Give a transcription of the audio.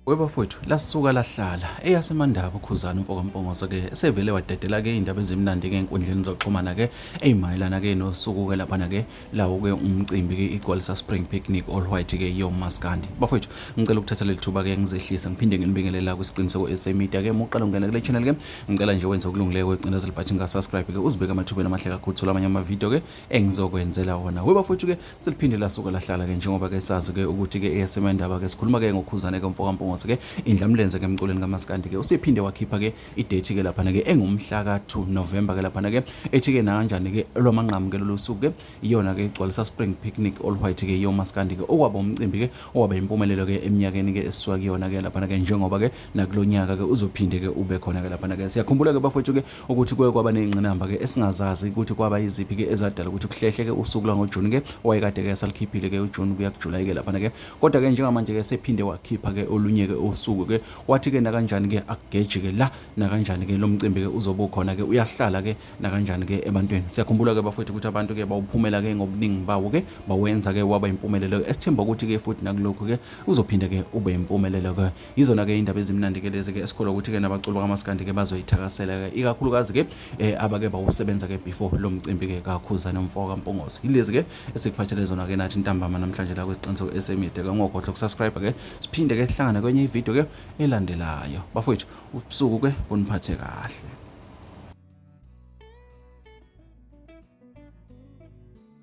webafowethu lasuka lahlala eyasemandaba ukhuzana umfokampongoso ke esevele wadedela ke iy'ndaba ezimnandi ke enkundleni zokuxhumana ke ey'mayelana ke nosuku ke laphana ke lawo ke umcimbi ke igcwalisa spring picnic all white ke yomaskandi bafowethu ngicela ukuthatha leli thuba ke ngizehlise ngiphinde nginibingelela kwisiqiniseko esemedia ke uma uqala ungena kule channel ke ngicela nje wenze okulungileyo kwecinezelo but ngasubscribe ke uzibeke amathubeni amahle kakhulu thola amanye amavidiyo ke engizokwenzela wona we bafowethu ke seliphinde lasuka lahlala ke njengoba ke sazi ke ukuthi ke eyesema indaba ke sikhuluma ke ngokhuzane ke mfoka Mpungose ke indlamlenze ke emculweni kaMaskandi ke usephinde wakhipha ke idate ke lapha ke engumhla ka 2 November ke lapha ke ethi ke nakanjani ke lwamanqamu ke lolu suku ke iyona ke igcwalisa spring picnic all white ke yoMaskandi ke okwaba umcimbi ke owaba impumelelo ke eminyakeni ke esisuka kuyona ke lapha ke njengoba ke nakulonyaka ke uzophinde ke ube khona ke lapha ke siyakhumbula ke bafowethu ke ukuthi kuye kwaba nezingqinamba ke esingazazi ukuthi kwaba iziphi ke ezadala ukuthi kuhlehle ke usuku la ngoJune ke owayekade ke salikhiphile ke uJune kuya kuJuly ke lapha ke kodwa ke njengamanje ke sephinde wakhipha ke olunye ke usuku ke wathi ke nakanjani ke akugeji ke la nakanjani ke lo mcimbi ke uzobe khona ke uyahlala ke nakanjani ke ebantwini siyakhumbula ke bafowethu ukuthi abantu ke bawuphumela ke ngobuningi bawo ke bawenza ke waba impumelelo esithemba ukuthi ke futhi nakulokho ke uzophinde ke ube impumelelo ke yizona ke indaba ezimnandi ke lezi ke esikholwa ukuthi ke nabaculi bakamaskandi ke bazoyithakasela ke ikakhulukazi ke eh, abake bawusebenza ke before lo mcimbi ke kakhuza nomfo kampongozi yilezi ke esikuphathele zona ke nathi ntambama namhlanje la kwesiqiniso esemide ke ngogodla ukusubscribe ke siphinde ke sihlangane kwenye ivideo ke elandelayo bafowethu ubusuku ke kuniphathe kahle